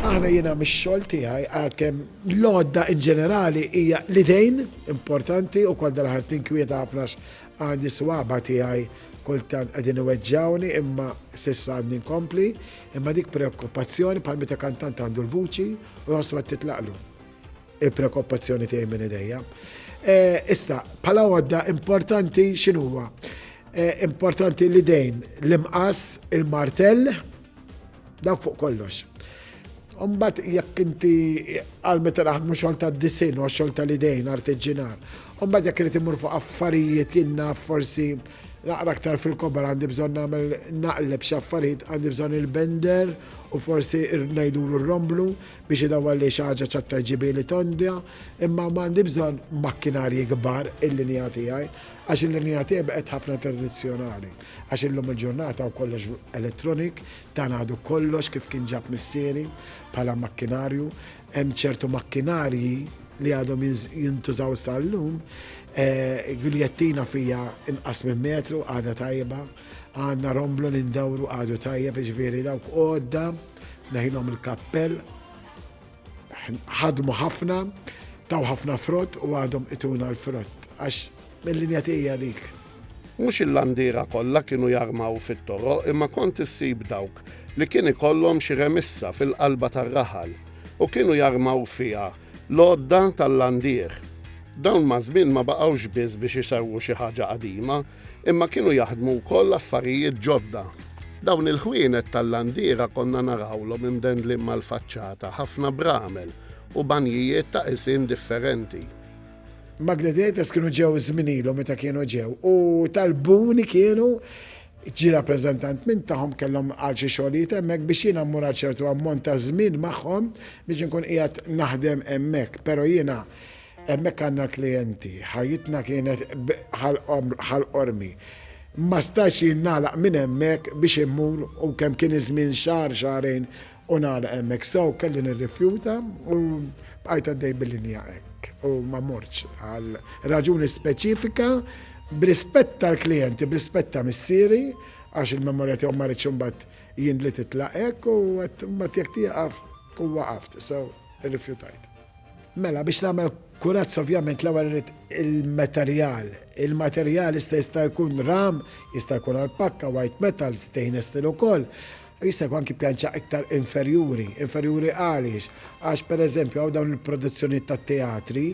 Aħna jiena mix-xogħol tiegħi għalkemm l-għodda in ġenerali hija l-idejn importanti u kol dal-ħart tinkwieta ħafna għandi swaba tiegħi kultant qegħdin iweġġawni imma sissa għandi nkompli imma dik preokkupazzjoni bħal meta kantant għandu l-vuċi u jħossu qed titlaqlu. Il-preokkupazzjoni tiegħi minn idejja. Issa, bħala għodda importanti x'inhuwa? Importanti l-idejn, l-imqas, il-martell, dawk fuq kollox. Umbat jekk inti għal meta naħdmu xogħol ta' disin u xogħol tal-idejn artiġinar. Umbat jekk irid imur fuq affarijiet jinna forsi naqra aktar fil-kobar għandi bżonn nagħmel naqleb xi affarijiet għandi bżonn il-bender u forsi ngħidulu r-romblu biex idawwar li xi ħaġa ċ'aktar ġibieli tonda, imma m'għandi bżonn makkinarji kbar il-linja tiegħi, għax il-linja tiegħi baqgħet ħafna tradizzjonali, għax illum il-ġurnata hu kollox electronic, dan għadu kollox kif kien ġab missieri bħala makkinarju, hemm ċertu makkinarji li għadhom jintużaw sa llum, guljettina fija inqas minn metru għadha tajba, għandna romblu li ndawru għadu tajjeb, jiġifieri dawk għodda. Neħilhom il-kappell, ħadmu ħafna, taw ħafna frott u għadhom ituna l-frott, għax mill-linja tija dik. Mhux il-landira kollha kienu jarmaw fit-toro imma kont issib dawk li kien ikollhom xi remissa fil-qalba tar-raħal u kienu jarmaw fiha L-għodda tal-landieħ. Dawn maż-żmien ma baqgħux biss biex isewwu xi ħaġa qadima, imma kienu jaħdmu wkoll affarijiet ġodda. Dawn il-ħwienet tal-landiera konna narawlhom imdendlin mal-faċċata ħafna bramel u banjijiet ta' qisien differenti. Magledetes kienu ġew żminilhom meta kienu ġew u talbuni kienu Ġie rappreżentant minn tagħhom kellhom għal xi xogħlijiet hemmhekk biex jiena mmur għal ċertu ammont ta' żmien magħhom biex inkun qiegħed naħdem hemmhekk. Però jiena hemmhekk għandna l-klijenti, ħajjitna kienet bħal qormi. Ma stajtx jien nagħlaq minn hemmhekk biex immur u kemm kien iż-żmien xahar, xahrejn, U nagħlaq hemmhekk. So, kelli nirrifjuta u bqajt għaddej bil-linja hekk u ma mortx għal raġuni speċifika b'rispett tal-klijenti, b'rispett ta' missieri għax il-memorja tiegħu ma ridx imbagħad jien li titlaq hekk u għedt imbagħad jekk tieqaf tkun waqaft. So, irrifjutajt. Mela, biex nagħmel kurazz ovvjament l-ewwel irid il-materjal. Il-materjal issa jista' jkun ram, jista' jkun għall-pakka, white metal, stainless steel ukoll. u jista' jkun anki pjanċa iktar inferjuri, inferjuri għaliex? Għax pereżempju hawn dawn il-produzzjonijiet tat-teatri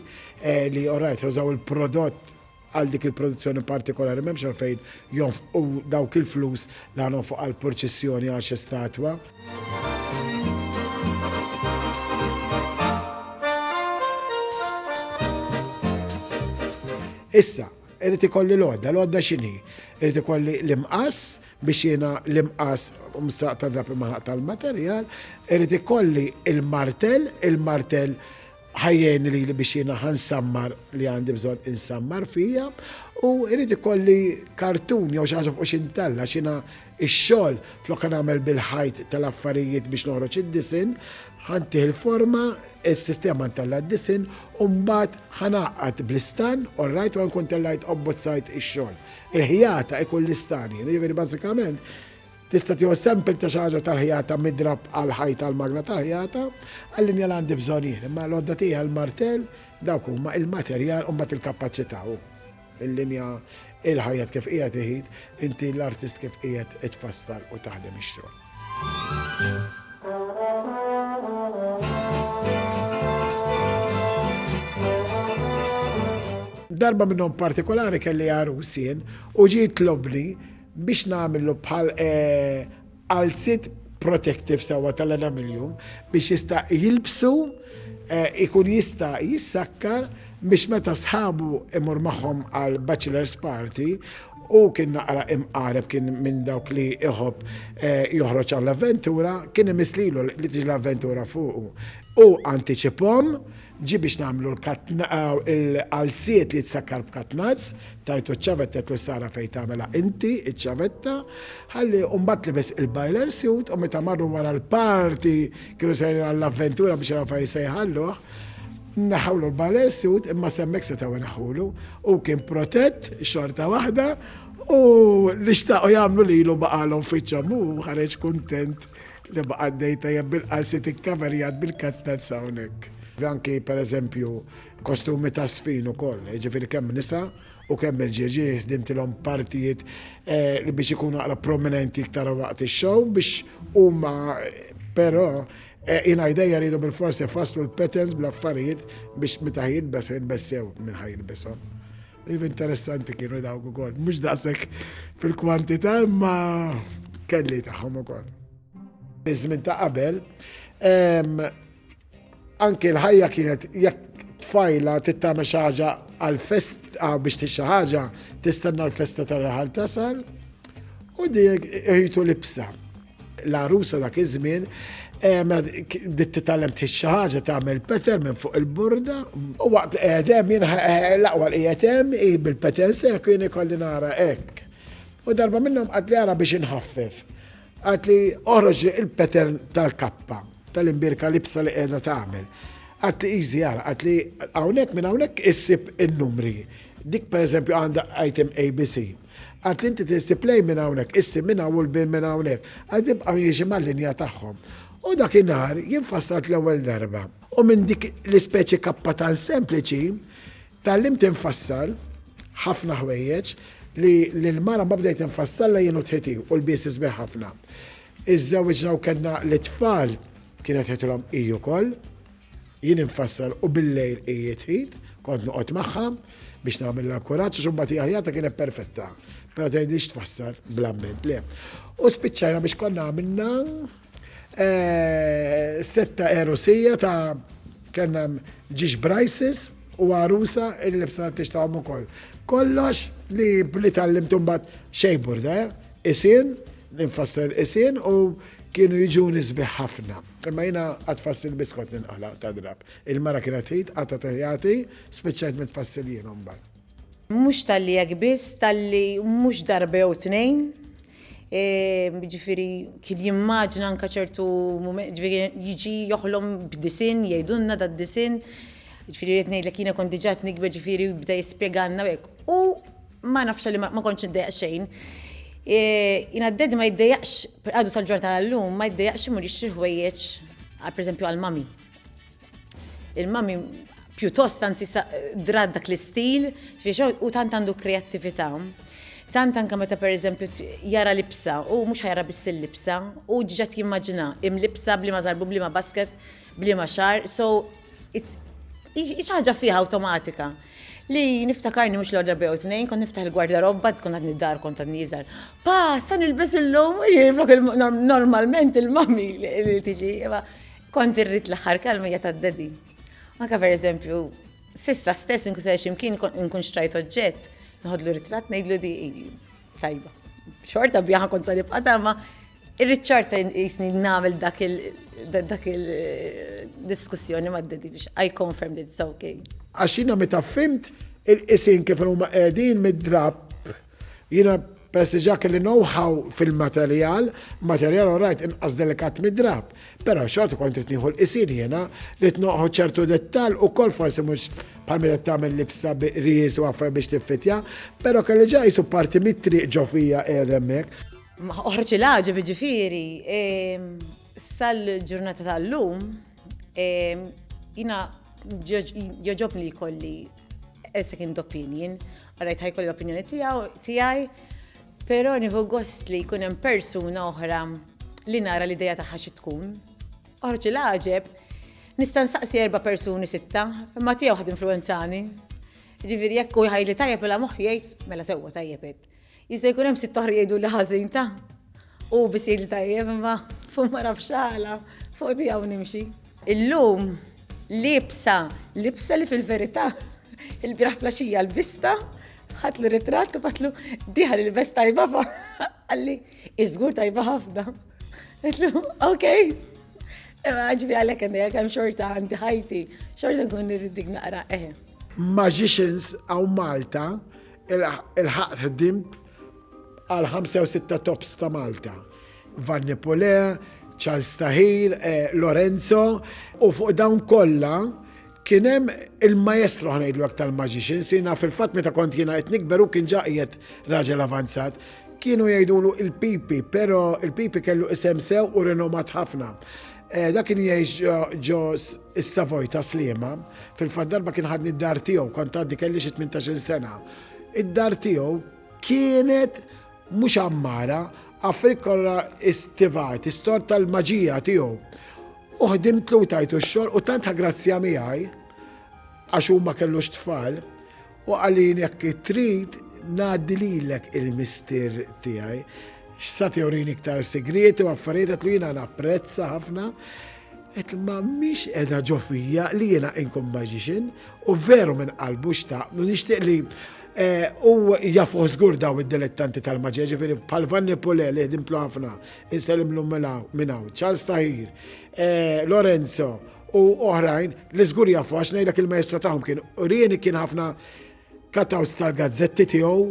li orajt jużaw il-prodott għal dik il-produzzjoni partikolari m'hemmx għalfejn jonfqu dawk il-flus li ħanonfqu għal purċissjoni għal xi statwa. Issa, irid ikolli l-għodda, l-għodda x'inhi? Irid ikolli l-imqass, Biex jiena l-imqas u msraq ta' drapp il-maħraq tal-materjal, irid ikolli l-martell, il-martell ħa jgħinni lili biex jiena ħa nsammar li għandi bżonn insammar fija, u irid ikolli kartun jew xi ħaġa fuq x'intalla għax jiena x-xogħol flok nagħmel bil-ħajt tal-affarijiet biex noħroġ id-disinn, ħa ntih il-forma, is-sistema ntella' d-disinn u mbagħad ħa ngħaqqad bl-istan, orrajt, u ħa nkun tellajt u bbozzajt ix-xogħol. Il-ħjata ikun l-istanjen, jiġifieri bażikament tista' tieħu sample ta' xi ħaġa tal-ħjata midrab għal ħajta għal magna tal-ħjata, għall-linja li għandi bżonn jien, imma l-għodda tiegħi l-martell dawk huma il-materjal u mbagħad il-kapaċità u l-linja il-ħajja kif qiegħed iħid, inti l-artist kif qiegħed itfassal u taħdem ix-xogħol. Darba minnhom partikolari kelli għarus jien u ġie jitlobni biex nagħmillu bħal qalziet eh, protective sewwa tal-enamiljum biex jista' jilbsu eh, ikun jista' jissakkar biex meta sħabu imur magħhom għal bachelor's party Hu kien naqra imqareb, kien minn dawk li iħobb joħroġ għall-avventura, kien imiss lilu li tiġi l-avventura fuqu. Hu antiċipahom, ġie biex nagħmlu l-qalziet li tsakkar b'katnazz, tajtu ċ-ċavetta għedtlu s-sara fejn tagħmilha inti ċ-ċavetta, ħalli u mbagħad libes il-bailer suit u meta marru wara l-party kienu sejrin għall-avventura biex jaraw fejn se jħalluh, Neħħewlu l-baler siwd imma s'hemmhekk setgħu jneħħulu. Hu kien protett xorta waħda u li xtaqgħu jagħmlu lilu baqgħalhom fiċċhom u ħareġ kuntent li baqa' dej tajjeb bil-qalsiet ikkaverjat bil-katnazz hawnhekk. Anki pereżempju kostumi ta' sfin ukoll, jiġifieri kemm nisa u kemm irġieġi ħdimtilhom partijiet eh, li biex ikunu aqra prominenti iktar waqt ix-show biex huma però Eh, jina ideja rridu bil-forsi faslu l-patterns bl-affarijiet biex meta jilbes jilbes sew minn ħaj jilbesom. Iv interessanti kienu dawk ukoll, mhux daqshekk fil-kwantità imma kelli tagħhom ukoll. Iż-żmien ta' qabel, anke l-ħajja kienet jekk tfajla tittama xi ħaġa għal-fest biex tixi xi ħaġa tistenna l-festa tar-raħal tasal u dik ejtu libsa. L-għarusa dak iż-żmien bdiet titgħallem tħix xi ħaġa tagħmel peter minn fuq il-borda u waqt li qiegħed hemm jien l-aqwa li qiegħed hemm hi bil-petals hekk u jien ikolli nara hekk. U darba minnhom qatt li ara biex inħaffef. Qatt li oħroġ il-peter tal-kappa tal-imbirka libsa li qiegħda tagħmel. Qatt li easy ara, qatt li hawnhekk minn hawnhekk issib in-numri. Dik pereżempju għandha item ABC. Għad li inti tirsib lejn minn hawnhekk, issib minn hawn u lbiel minn hawnhekk, għad li jibqgħu jiexi mal-linja tagħhom. U dakinhar jien fassalt l-ewwel darba. U minn dik l-ispeċi kappa tant sempliċi, tgħallimt infassal ħafna ħwejjeġ li lill-mara mbagħad bdejt infassallha jien u t-ħiti u lbiesi sbieħ ħafna. Iżżewwiġna u kellna l-itfal, kienet qedtilhom hi wkoll. Jien infassal u bil-lejl hi tħit, kont noqgħod magħha biex nagħmilha l-kuraġġ għax imbagħad hi ħajjatha kienet perfetta. Però tgħidlix tfassal bl-amment le. U spiċċajna biex konna għamilna eh, setta erusija ta' kellna ġiex brajsis u għarusa il-libsa t-tix ta' ukoll. Kollox li bli tal-lim tumbat xejbur da, eh? isin, ninfasser isin u kienu jiġu nisbiħ ħafna. Imma jiena għad fass il-biskot ninqala' ta' drapp. Il-mara kienet tgħid, qatgħet tgħjati, spiċċajt minn tfassil jien imbagħad. Mhux talli hekk biss, talli mhux darba jew tnejn, jiġifieri kien jimmaġina anke ċertu mumenti, jiġifieri jiġi joħlom b'disinn, jgħidulna dad-disinn, jiġifieri rrid ngħidlek jiena kont diġà qed nikber jiġifieri bda jispjegalna u hekk. U Ma nafx għalli ma kontx niddejjaq xejn. Jiena d-daddy ma jiddejjaqx, għadu sal-ġurnata tal-lum, ma jiddejjaqx imur jixtri ħwejjeġ pereżempju għal mami. Il-mami pjuttost anzi drat dak l-istil, u tant għandu kreattività. Tant anke meta pereżempju jara libsa, hu mhux ħajara biss il-libsa, hu diġà jimmaġina imlibsa b'liema żarbun, b'liema basket, b'liema xagħar, so Hi xi ħaġa fiha awtomatika li niftakarni mhux l-għodra bew tnejn, kont niftaħ il-gwardarobba, tkun għadni d-dar kont għadni jiżgħar. Pa, sa nilbes illum, jiflok normalment il-mami li tiġi, ma kont irrid l-aħħar kelma hija tad-dedi. Anka per eżempju, sissa stess nkun se ximkien nkun xtrajt oġġett, nħodlu ritrat ngħidlu di tajba. Xorta bjaħa kont sa nibqa' ma Irrid ċarta jisni nagħmel dak il dak il diskussjoni ma' daddy biex I confirm that it's okay. Għax jiena meta fhimt il-qisien kif huma qegħdin mid-drapp, jiena peress li ġa kelli know how fil-materjal, materjal all right inqas delikat mid-drapp, però xorta kont irid nieħu l-qisien jiena, ridt noħu ċertu dettall ukoll forsi mhux bħal meta tagħmel libsa bi qries u affarijiet biex tiffittja, però kelli ġa qisu parti mit-triq ġo fija qiegħed hemmhekk. Oħroġ il-għaġeb jiġifieri sal-ġurnata tal-lum jina joġobni li kolli a second opinion, għarajt ħaj kolli opinjoni tijaw, tijaj, pero nifu gost li kunem persuna oħra li nara li dejja taħħa xi tkun. Oħroġ il-għaġeb, nista' nsaqsi erba' persuni sitta, imma tiegħu ħad influenzani. Ġifieri jekk u jħajli tajjeb mela moħħ jgħid mela sewwa tajjeb Jista' jkun hemm sitt oħra jgħidu li ħażin ta' u biss jgħid li tajjeb imma fuq ma nafx għala fuq tiegħu nimxi. Illum libsa, libsa li fil-verità il-biraħ flaxija l-bista ħat li ritratt u batlu diħal il-best tajba fa' għalli iżgur tajba ħafna. Għetlu, ok. Għagġbi għalek għandi għalek għam xorta għandi ħajti, xorta nkun nirridik naqra eħe. Eh. Magicians għaw Malta Ilħaqt ħdimt għal ħamsa jew sitta tops ta' Malta. Vanni Pule, Charles Tahir, eh, Lorenzo, u fuq dawn kollha kien hemm il-maestro ħnejdlu tal-maġixin, sina fil-fatt meta kont jiena qed nikber u kien ġaqiet raġel avanzat kienu jgħidulu il-pipi, pero il-pipi kellu isem sew u renomat ħafna. Eh, dak kien jgħix ġo s-Savoy ta' Sliema, fil-fatt darba kien ħadni d-dar tiegħu, kont għaddi kelli xi 18 sena. Id-dar tiegħu kienet mhux ammara, affrik kollha istivat, istor tal-maġija tiegħu. U ħdimt lu tajtu x-xogħol u tant ħagrazzja miegħi għax huma kellux tfal U qalili jekk trid ngħaddi lilek il-mistier tiegħi. X'sa tewrini iktar sigrieti u affarijiet qed jiena napprezza ħafna. Qed ma mhix qiegħda ġo fija li jiena inkun magician u veru minn qalbu xtaq u nixtieq li Eh, u jafu żgur daw id-dilettanti tal-maġja, ġifiri bħal Vanni Pule li ħdimtlu ħafna, insellimlu mela minnaw, Charles Tahir, eh, Lorenzo, u oħrajn li żgur jafu għax ngħidlek il-maestro tagħhom kien urieni kien ħafna kataws tal-gazzetti tiegħu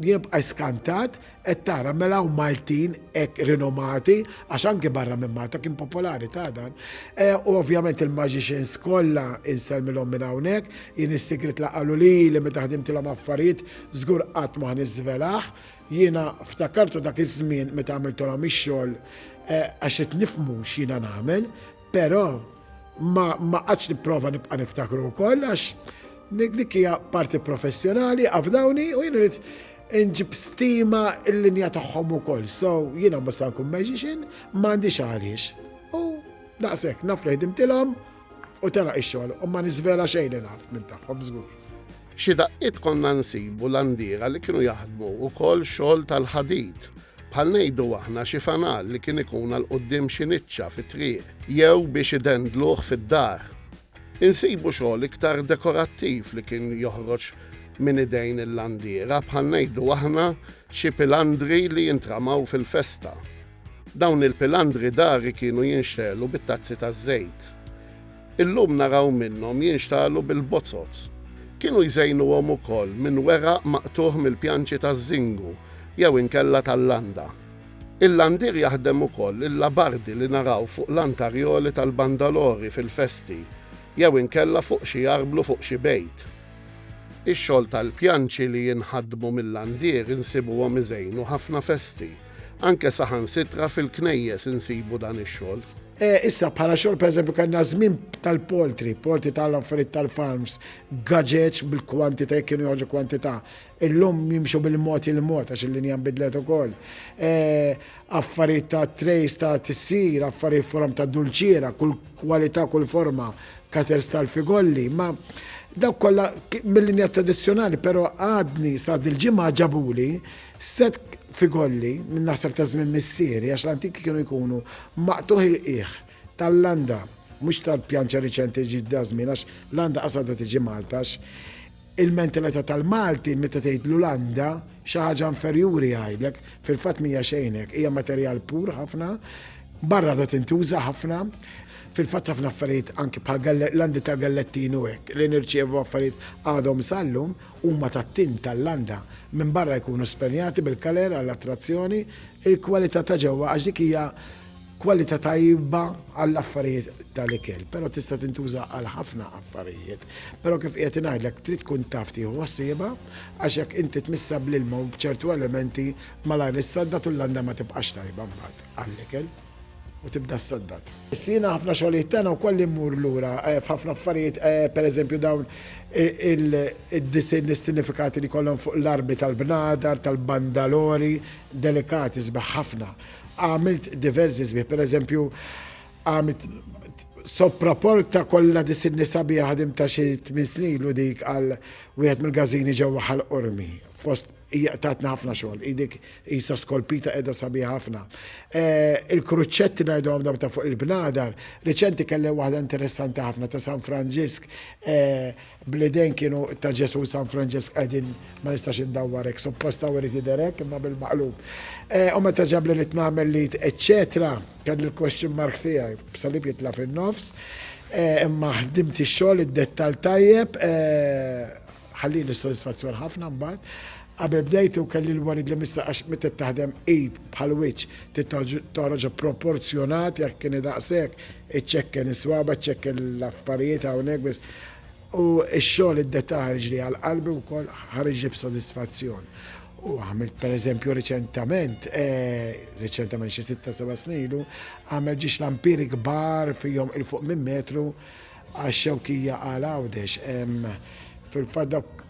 jibqa' skantat qed tara mela u Maltin hekk rinomati għax anke barra minn Malta kien popolari ta' dan. E, u ovvjament il-magicians kollha insellmilhom minn hawnhekk, jien is-sigrit la qalu li li meta ħdimtilhom affarijiet żgur qatt ma niżvelaħ. Jiena ftakartu dak iż-żmien meta għamiltolhom ix-xogħol e, għax qed nifmu x'jiena nagħmel, Però ma ma qatx nipprova nibqa' niftakru wkoll għax dik dik hija parti professjonali, afdawni u jien irid inġib stima l-linja tagħhom ukoll. So jiena mhux se nkun magician, ma għandix għaliex. U daqshekk naf li ħdimtilhom u telaq ix-xogħol u ma niżvela xejn li naf minn tagħhom żgur. Xi daqqiet konna nsibu l-għandiera li kienu jaħdmu wkoll xogħol tal-ħadid bħal ngħidu aħna xi fanal li kien ikun għal quddiem xi niċċa fit-triq jew biex idendluh fid-dar. Insibu xogħol iktar dekorattiv li kien joħroġ minn idejn il-landiera bħal ngħidu aħna xi pilandri li jintramaw fil-festa. Dawn il-pilandri dari kienu jinxtegħlu bit-tazzi taż-żejt. Illum naraw minnhom jinxtagħlu bil-bozoz. Kienu jżejnuhom ukoll minn weraq maqtugħ mill-pjanċi taż-żingu jew inkella tal-landa. Il-landier jaħdem ukoll il-labardi li naraw fuq l-antarjoli tal-bandalori fil-festi jew inkella fuq xi arblu fuq xi bejt. Ix-xogħol tal-pjanċi li jinħadmu mil-landier insibuhom iżejnu ħafna festi. Anke saħansitra fil-knejjes insibu dan ix-xogħol. Issa, bħala xogħol pereżempju kellna żmien tal-poultry, poultry tal-affarijiet tal-farms, gaġeġ bil-kwantità jekk kienu joħorġu kwantità. Illum jimxu bil-mod il-mod għax il-linja nbidlet ukoll. Affarijiet ta' trays ta' tissir, affarijiet forom ta' dulċiera, kull kwalità, kull forma, cutters tal-figolli, ma dawk kollha mil-linja tradizzjonali, però għadni sa dil-ġimgħa ġabuli Sett f'igolli minn naħseb ta' żmien missieri għax l-antiki kienu jkunu maqtugħ il-qiegħ tal-landa mhux tal-pjanċa riċenti ġiet da' żmien għax landa qas għadha tiġi Malta għax il-mentalita' tal-Malti meta tgħidlu landa xi ħaġa inferjuri jgħidlek fil-fatt m'hija xejn hekk hija materjal pur ħafna barra għadha tintuża ħafna fil-fatt ħafna affarijiet anki bħal landi tal-gallettin u hekk li nirċievu affarijiet għadhom sal-lum huma tat-tim tal-landa, minn barra jkunu spenjati bil-kaler għall-attrazzjoni, il-kwalità ta' ġewwa għax dik hija kwalità tajba għall-affarijiet tal-ikel, però tista' tintuża għal ħafna affarijiet. Però kif qiegħed ngħidlek trid tkun taf tieħu ħsiebha għax jekk inti tmissha bl-ilma u b'ċertu elementi malajr issaddad u l-landa ma tibqax tajba mbagħad għall-ikel. u tibda ssaddad. Sina ħafna xogħlijiet tagħna wkoll immur lura f'ħafna affarijiet, pereżempju dawn id-disinn li s-sinifikati li jkollhom fuq l-armi tal-bnadar, tal-bandalori, delikati, sbieħ ħafna. Għamilt diversi sbieħ, pereżempju għamilt soppraporta kollha disinni sabiħa ħadimtha xi tmien snin ilu dik għal wieħed mill-gażini ġewwa Ħal Qormi fost Hija tatna ħafna xogħol. Hi dik qisha skolpita qiegħda sabiħa ħafna. Il-kruċċetti ngħidulhom dawn ta' fuq il-bnadar, riċenti kelli waħda interessanti ħafna ta' San Franġisk bl-idejn kienu ta' Ġesù u San Franġisk qegħdin ma nistax indawwar hekk, suppost hawn irid jidher hekk imma bil-maqlub. U meta ġab li rid nagħmel l-id eċċetera, kelli l-question mark tiegħi b'salib jitla' fin-nofs, imma ħdimt ix-xogħol, id-dettall tajjeb, Ħallieli sodisfazzjon ħafna mbagħad. Qabel bdejtu kelli l-worried li mista għax meta trid taħdem id bħal wiċċ trid toħroġha proporzjonat jekk kieni daqshekk, iċċekken is-swaba' iċċekken l-affarijiet hawnhekk biss. U x-xogħol id-dettal ħariġli għal qalbi wkoll ħariġli b'sodisfazzjon. U għamilt pereżempju riċentament, riċentament xi sitta seba' snin ilu, għamilt ġiex lampiri kbar fihom il fuq minn metru Għax-Xewkija għal Għawdex. Fil-fatt dawk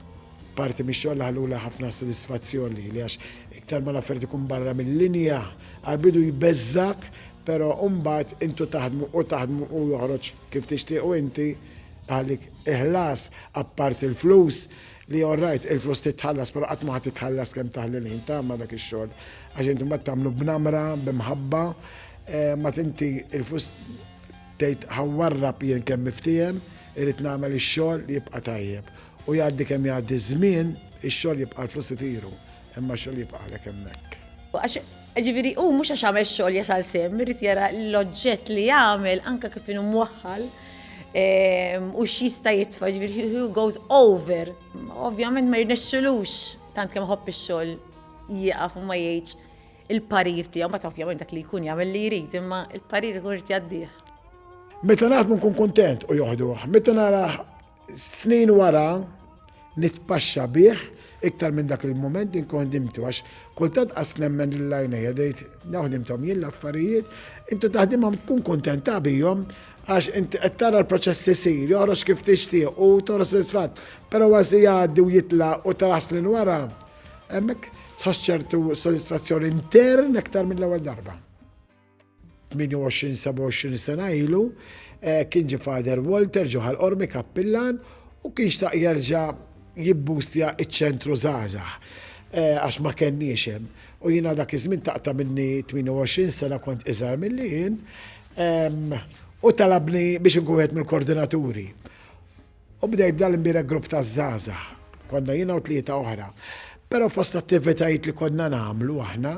parti mix-xogħol li ħalluli ħafna sodisfazzjon lili għax iktar ma l-affarijiet ikun barra mil-linja, għall-bidu jbeżżgħek però mbagħad intu taħdmu u taħdmu u joħroġ kif tixtieq u inti iħallik il-ħlas apart il-flus li all right il-flus trid tħallas però qatt ma ħa titħallas kemm taħli l-ħin ta' ma' dak ix-xogħol għax inti mbagħad tagħmlu b'namra, b'imħabba, mbagħad inti il-flus Tgħid ħa warrab jien kemm niftiehem, irrid nagħmel ix-xogħol li jibqa' tajjeb. U jgħaddi kemm jgħaddi ż-żmien, ix-xogħol jibqa' l-flus itiru, imma x-xogħol jibqa' għalhekk hemmhekk. Għax, jiġifieri, hu mhux għax għamel xogħol jasal sehem, irid jara l-oġġett li għamel anke kif inhu mwaħħal u x'jista' jitfa', jiġifieri he goes over. Ovvjament ma jirnexxilux, tant kemm iħobb ix-xogħol, jieqaf u ma jgħidx il-parir tiegħu, meta ovvjament dak li jkun jagħmel li jrid, imma il-parir ikun irid jgħaddih. Meta naħdmu nkun kuntent u joħduh, meta nara snin wara nitpaxxa bih iktar minn dak il-moment din kon dimtu għax kultant qas nemmen l-lajnejja dejt naħdimtom jien l-affarijiet, inti taħdimhom tkun kuntenta bihom għax inti qed tara l-proċess isir, joħroġ kif tixtieq u tora sodisfatt, però għażi jgħaddi u jitla u tara snin wara Hemmhekk tħoss ċertu sodisfazzjon intern aktar mill-ewwel darba. 28-27 sena ilu eh, kien ġi Fader Walter ġoħal Ormi Kappillan u kien xtaq jerġa' jibbustja iċ-ċentru żgħażagħ eh, għax ma kenniex hemm. U jiena dak iż-żmien taqta' minni 28 sena kont iżgħar milli jien u talabni biex inkun wieħed mill-koordinaturi. U bdejt b'dan l-imbierek grupp ta' żgħażagħ. Konna jiena u tlieta oħra. Però fost l-attivitajiet li konna nagħmlu aħna,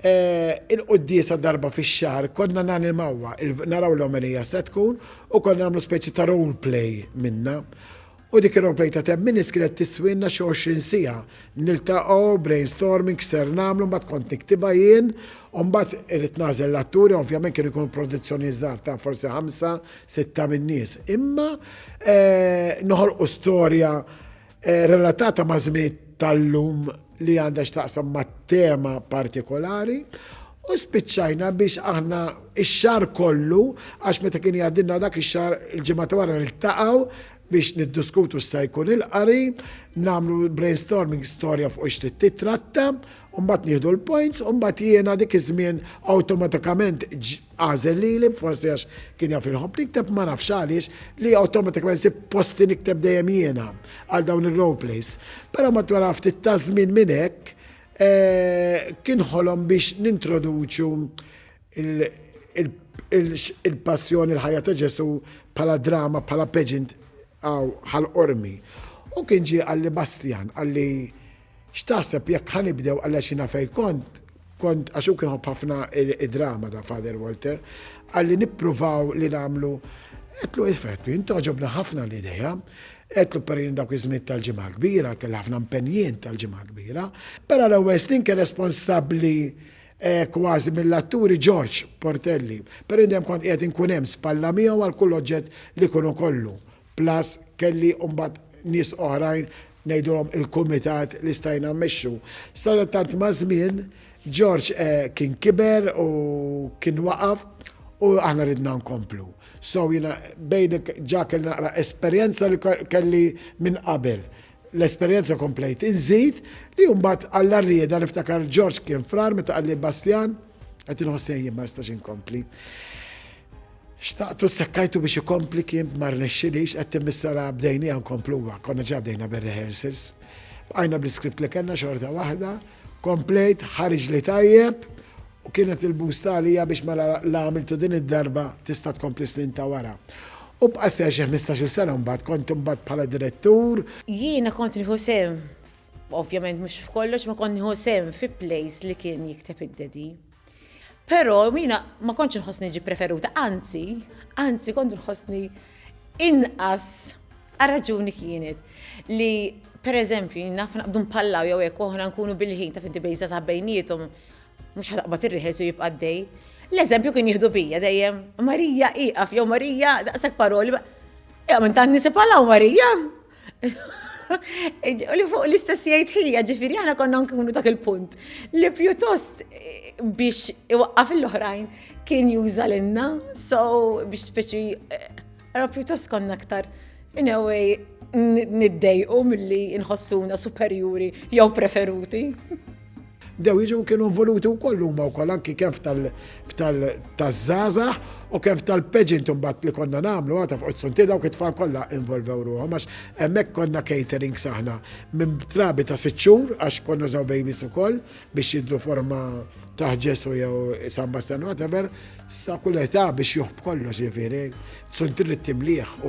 il-quddiesa darba fix-xahar konna nanimawha, naraw l-omelija se tkun u konna nagħmlu speċi ta' role play minnha. U dik ir-role play ta' ten minutes kienet tiswielna xi għoxrin siegħa. Niltaqgħu, brainstorming, x'ser nagħmlu, mbagħad kont niktibha jien u mbagħad irrid nagħżel l-atturi, ovvjament kienu jkunu produzzjonijiet żgħar ta' forsi ħamsa, sitta min-nies, imma noħolqu storja relatata ma' żmiet tal-lum li għandha x'taqsam ma' tema partikolari u spiċċajna biex aħna ix-xar kollu għax meta kien jgħaddilna dak ix-xar il-ġimgħa ta' wara niltaqgħu biex niddiskutu x'sa jkun il-qari, nagħmlu brainstorming storja fuq ix tittratta, u mbagħad nieħdu l-points u mbagħad jiena dik iż-żmien awtomatikament Għażel lili, forsi għax kien jaf inħobb nikteb ma nafx għaliex, li awtomatikament sib posti nikteb dejjem jiena għal dawn ir-roleplays. Però matwar ftit ta' żmien minn hekk eh, kien ħolom biex nintroduċu il-passjoni l-ħajja ta' Ġesu bħala drama, bħala pageant għal ormi. U kien ġi għalli Bastian, għalli X'taħseb jekk ħa nibdew Għall-għexina fejn kont, kont, għax hu kien iħobb ħafna d-drama dan Father Walter, qalli nippruvaw li nagħmlu Għedtlu iva għedtlu jien togħġobni ħafna l-idea, għedtlu per jien dawk iż-żmien tal-Ġimgħa l-Kbira, kelli ħafna mpenn jien tal-Ġimgħa l-Kbira. Però l-ewwel snin kien responsabbli kważi mill-atturi George Portelli, però jien dejjem kont qiegħed inkun hemm spalla miegħu għal kull oġġett li jkun ikollu Plus kelli mbagħad nies oħrajn ngħidulhom il-kumitat li stajna mmexxu. Sadattant maż-żmien George kien kiber u kien waqaf u aħna ridna nkomplu. So jiena bejn ġa kelli naqra esperjenza li kelli minn qabel. L-esperjenza komplejt inżid li mbagħad Alla riedha niftakar George kien frar meta qalli Bastjan qed inħoss sejjien ma nistax inkompli. Xtaqtu sekkajtu biex ikompli kien ma rnexxilix qed timmissara bdejnieha nkompluha, konna ġa bdejna bir-rehearsals. Bqajna bl-iskript li kellna xorta waħda, komplejt, ħariġli tajjeb u kienet il-boost għalija biex mela la għamiltu din id-darba tista' tkompli snin ta' wara. U bqa' seħħ xi ħmistax-il sena mbagħad, kont imbagħad bħala direttur. Jiena kont nieħu sehem, ovvjament mhux f'kollox, imma kont nieħu sehem fi plays li kien jikteb id-Daddy. Però jiena ma kontx inħossni ġi preferuta, anzi, anzi kont inħossni inqas raġuni kienet li per eżempju naf naqbdu mpallaw jew hekk oħra nkunu bil-ħin ta' finti bejza sa' bejnietom mhux ħadaqbad ir-reħels u jibqa' dej. L-eżempju kien jieħdu bija dejjem, Marija iqaf jew Marija daqshekk paroli. Ew minn tant nisib Marija. U li fuq l-istess jgħid ħija, ġifiri aħna konna nkunu dak il-punt. Li pjuttost eh, biex iwaqqaf l-oħrajn kien juża l-inna, so biex speċi, eh, era pjuttost konna aktar, in a way, niddejqu mill-li nħossuna superjuri jew preferuti. Bdew jiġu u kienu involuti wkoll huma wkoll anki kemm f'tal-taż-żgħażagħ u kemm f'tal-pageant imbagħad li konna nagħmlu għad ta' fuq it-suntier dawk it-tfal kollha involvew ruħhom għax hemmhekk konna caterings aħna minn trabi ta' sitt xhur għax konna nużaw babies ukoll biex jidhru forma ta' Ġesù jew San Bastian whatever sa kull età biex juħb kollox jiġifieri suntier li timlih u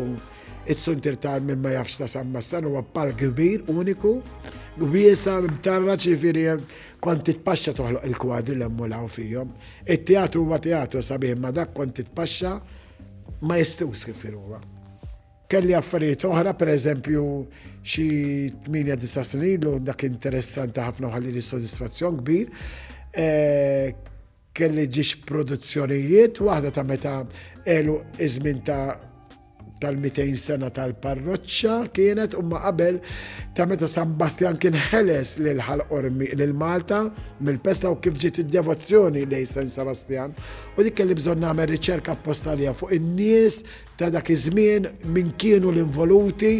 Iċ-ċuntir ta' min ma jafx ta' San Mastan huwa park kbir, uniku, wiesa, mtarra ċifiri kont titpaxxa toħloq il-kwadri l emmulaw fihom. It-teatru huwa teatru sabiħ ma dak kont titpaxxa ma jistux kif huwa. Kelli affarijiet oħra, per eżempju, xi 8-9 snin lu dak interessanti ħafna ħalli li sodisfazzjon kbir. Eh, Kelli ġiex produzzjonijiet, waħda ta' meta għelu iż-żmien ta' tal-200 sena tal-parroċċa kienet umma qabel ta' meta San Bastjan kien ħeles lil ħalqormi lil Malta mill-pesta u kif ġiet id-devozzjoni lej San Sebastian u dik kelli bżonn nagħmel riċerka postalija fuq in-nies ta' dak iż-żmien min kienu l-involuti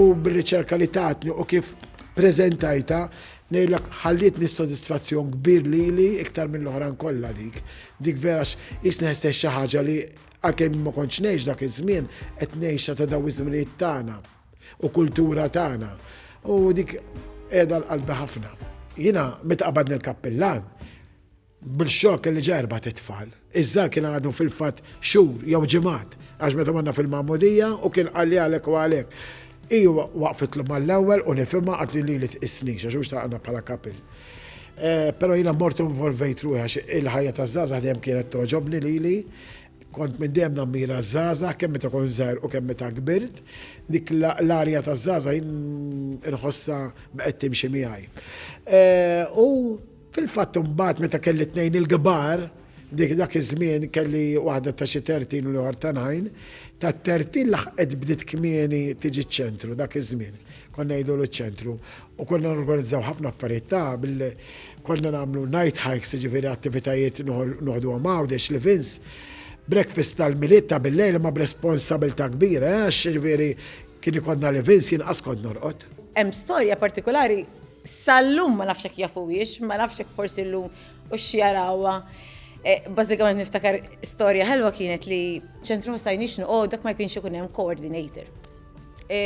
u bir-riċerka li tatni u kif preżentajta Ngħidlek ħallietni sodisfazzjon kbir lili iktar mill-oħrajn kollha dik. Dik vera għax qisni ħessejt xi ħaġa li għalkemm jien ma kontx ngħix dak iż-żmien, qed ngħixha ta' dawn iż-żminijiet tagħna u kultura tagħna. U dik qiegħda għal qalbi ħafna. Jiena meta qabadni l-kappillan, Bl-xokk li ġa erbat it-tfal, iż-żgħar kien għadu fil-fatt xhur jew ġimgħat għax meta morna fil-magħmudija u kien qalli għalhekk u għalhekk. Hi waqfitlu mal-ewwel u nifhimha qaltli lili tqissnix għax hu xtaqna bħala couple. Però jiena mort u involvejt ruħi għax il-ħajja taż-żgħażagħ dejjem kienet togħġobni lili. Kont minn dejjem nammira ż-żgħażagħ kemm meta kont żgħir u kemm meta kbirt. Dik l-arja taż-żgħażagħ jien inħossha bqgħet timxi miegħi. U Fil-fatt imbagħad meta kelli tnejn il-kbar, dik dak iż-żmien kelli waħda ta' xi tertin u l-ieħor ta' nine, tat-tertin laħqet bdiet kmieni tiġi ċ-ċentru dak iż-żmien. Konna ngħidulu ċ-ċentru u konna norganizzaw ħafna affarijiet tagħha bil konna nagħmlu night hikes jiġifieri attivitajiet noħduhom Għawdex, Livins, breakfast tal-Milied ta' bil-lejl imma b'responsabilità kbira għax jiġifieri kien ikollna Livins jien qas kont norqod. Hemm storja partikolari Sal-lum ma nafx jekk jafuhiex, ma nafx jekk forsi llum u x'jarawha. E, bażikament niftakar storja ħelwa kienet li ċentru ma stajniex noqgħod dak ma jkunx ikun hemm coordinator. E,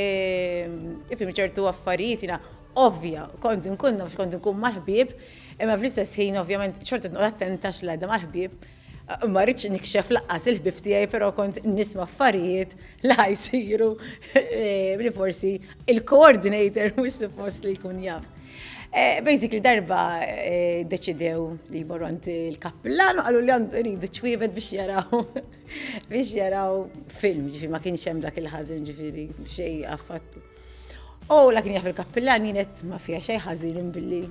Ifim ċertu affarijiet jiena ovvja, kont nkun nafx kont nkun mal-ħbieb, imma fl-istess ħin ovvjament ċorta tnoqgħod attenta x'għadha mal-ħbieb. Ma rridx nikxef laqqas il-ħbieb tiegħi però kont nisma' affarijiet li ħa jsiru li forsi il-coordinator mhux suppost li jkun jaf. Basically darba deċidew li jmorru għand il-kappillan u qalu li għandu jridu ċwievet biex jaraw biex jaraw film, ġifi ma kienx hemm dak il-ħażin ġifieri xejn affattu. U la kien jaf il-kappillan jien qed ma fiha xejn ħażin billi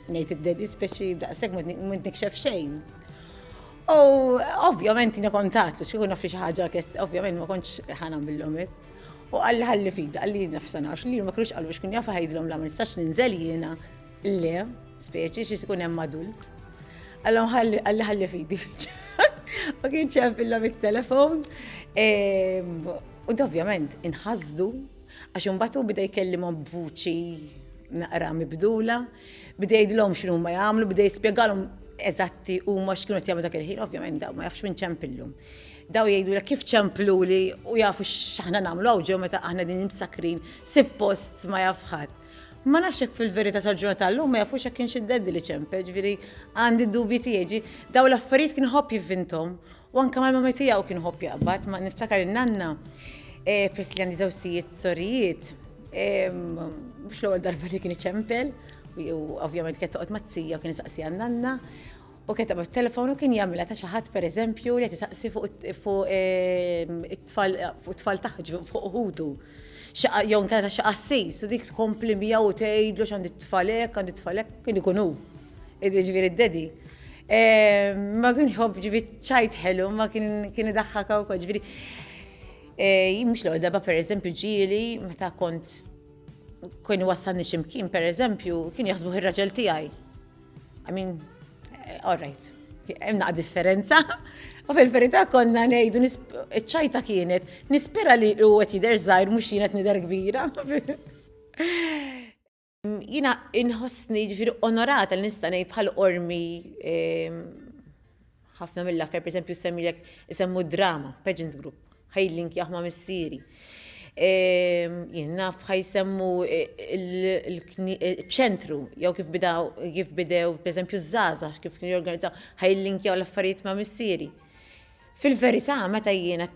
Ngħid id-dispeċi daqshekk m'għad nikxef xejn. U ovvjament jiena kont għadtu xi jkun naf xi ħaġa kett, ovvjament ma kontx ħana millhom hekk. U qalli ħalli fida, qalli jiena f'sanax li ma kienux qalu xkun jafu ħajdlhom la ma nistax ninżel jiena. Le, speċi xi jkun hemm adult. Allom ħalli ħalli fidi. U kien ċempillhom it-telefon. U ovvjament inħasdu Għax imbagħad hu beda jkellimhom b'vuċi naqra mibdula, beda jgħidilhom x'inhuma jagħmlu, beda jispjegalhom eżatti huma x'kienu qed jagħmlu dak il-ħin, ovvjament daw ma jafx minn ċempillum. Daw jgħidulek kif ċempluli u jafu x'aħna nagħmlu hawn ġew meta aħna din imsakrin, sippost ma jaf ħadd. Ma nafx hekk fil-verità tal-ġurnata llum ma jafux hekk kienx id-daddy li ċempel, ġifieri għandi dubji tiegħi. Daw l-affarijiet kien ħobb jivvintom U anke mal-mommy tiegħu kien iħobb jaqbad. Ma niftakar in-nanna, peress li għandi żewġ sijiet sorijiet, mhux l-ewwel darba li kien iċempel, u ovvjament kienet toqgħod mat-tija u kien isaqsiha n-nanna, u kienet taqbad it-telefon u kien jagħmilha ta' xi ħadd pereżempju li qed isaqsi fuq it-tfal, fuq it-tfal taħt, fuq ħutu. Jew inkella ta' xi qassis, u dik tkompli miegħu u tgħidlu x'għand it-tfal hekk, għand it-tfal hekk, kien ikun hu. Ġifieri d-daddy. Ma kien jħobb ġifieri ċajt ħelu, ma kien idaħħaka wkoll. Ġifieri eh, mhux l-ewwel darba pereżempju ġieli meta kont kien wassalni ximkien pereżempju kien jaħsbu ir-raġel tiegħi. I mean, eh, all right hemm naqa' differenza. U fil-verità konna ngħidu ċajta kienet nispera li u qed jidher żgħir mhux jien qed nidher kbira. Jiena inħossni ġifieri onorata li nista' ngħid bħal qormi ħafna mill-aktar pereżempju semmilek isemmu d-drama, Pageant Group, ħajlink jaħma missieri. Jien naf ħajsemmu l-ċentru jew kif bidaw kif bidew pereżempju ż-żgħażagħ kif kienu jorganizzaw ħajlinkjaw l-affarijiet ma' missieri. Fil-verità meta jiena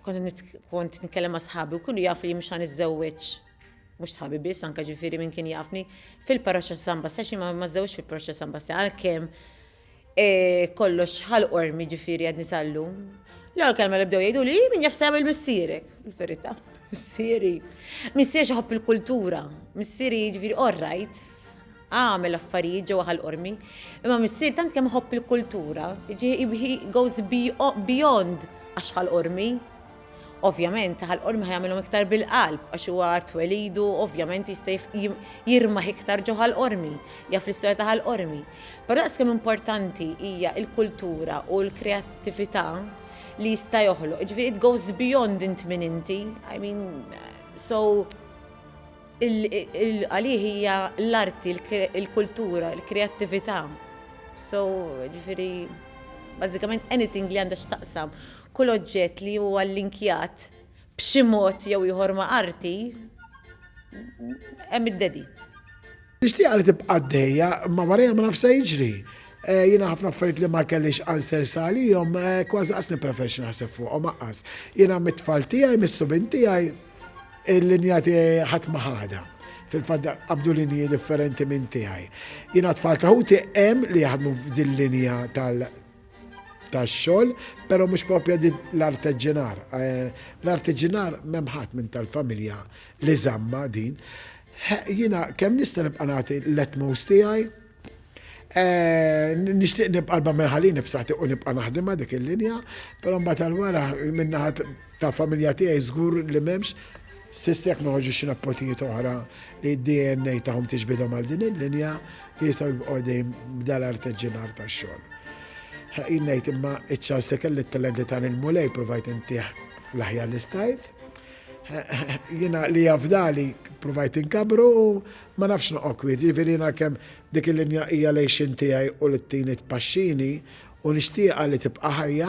kont nitkellem ma' sħabi u kullu jaf li mhux ħa niżżewweġ mhux sħabi biss, anke ġifieri min kien jafni, fil-Parroċċa San Bassja xi ma żewġ fil-Parroċċa San Bassja għalkemm e, kollox ħal ormi ġifieri għad nisallu. L-għal kelma li bdew jgħidu li min jaf sejgħu il-missierek, il-verità. Missieri, missieri xaħab il-kultura, missieri ġifieri all right, għamel affarijiet ġewwa ħal ormi, imma missieri tant kemm ħobb il-kultura, he goes beyond għax ħal ormi. Ovvjament, ħalqorm ħa jagħmilhom iktar bil-qalb għax huwa art welidu, ovvjament jista' jirmaħ iktar ġo ħalqormi, jaf l-istorja ta' ħalqormi. Però daqs kemm importanti hija l-kultura u l-kreattività li jista' joħloq. Ġifieri it goes beyond int min inti. I mean, so għalih hija l-arti, il-kultura, il-kreattività. So, ġifieri, bażikament anything li għandha x'taqsam Kull oġġett li huwa llinkjat b'xi mod jew ieħor ma' arti, hemm id-dedi. Nixtieqha li tibqa' għaddejja, imma warajha ma nafx se jiġri. Jiena ħafna affarijiet li ma kellix answers għalihom kważi qas nippreferixxi naħseb fuqhom aqqas. Jiena mit-tfal tiegħi, mis-subien tiegħi, il-linja tiegħi ħadd ma ħadha. Fil-fatt qabdu linji differenti minn tiegħi. Jiena t-tfal ta' ħuti hemm li jaħdmu f'dil-linja tax-xogħol, però mhux proprja din l-arteġġinar. Eh, l-arteġġinar m'hemm ħadd minn tal-familja li żamma din. Jiena kemm nista' nibqa' nagħti l-etmos tiegħi, Eh, nishtiq nibqa l-bammer ħalini b'sati u nibqa naħdima dik il-linja, pero mbagħad tal-wara minnaħat Ta' familja tiegħi żgur li m'hemmx. S'issa jekk ma jħorġux xi nepotijiet oħra li d-DNA tagħhom tiġbidhom għal din il-linja, jistgħu jibqgħu għaddejjin b'dal-artiġġinar tax-xogħol. Ħaqin ngħid imma iċ-ċans li kelli t-talenti ta' lil Mulej provajt intih l-aħjar li stajt. Jiena li jafdali provajt inkabru u ma nafx noqgħod kwiet, jiġifieri jiena kemm dik il-linja hija l-għixien tiegħi u li tini tpaxxini u nixtieqha li tibqa' ħajja,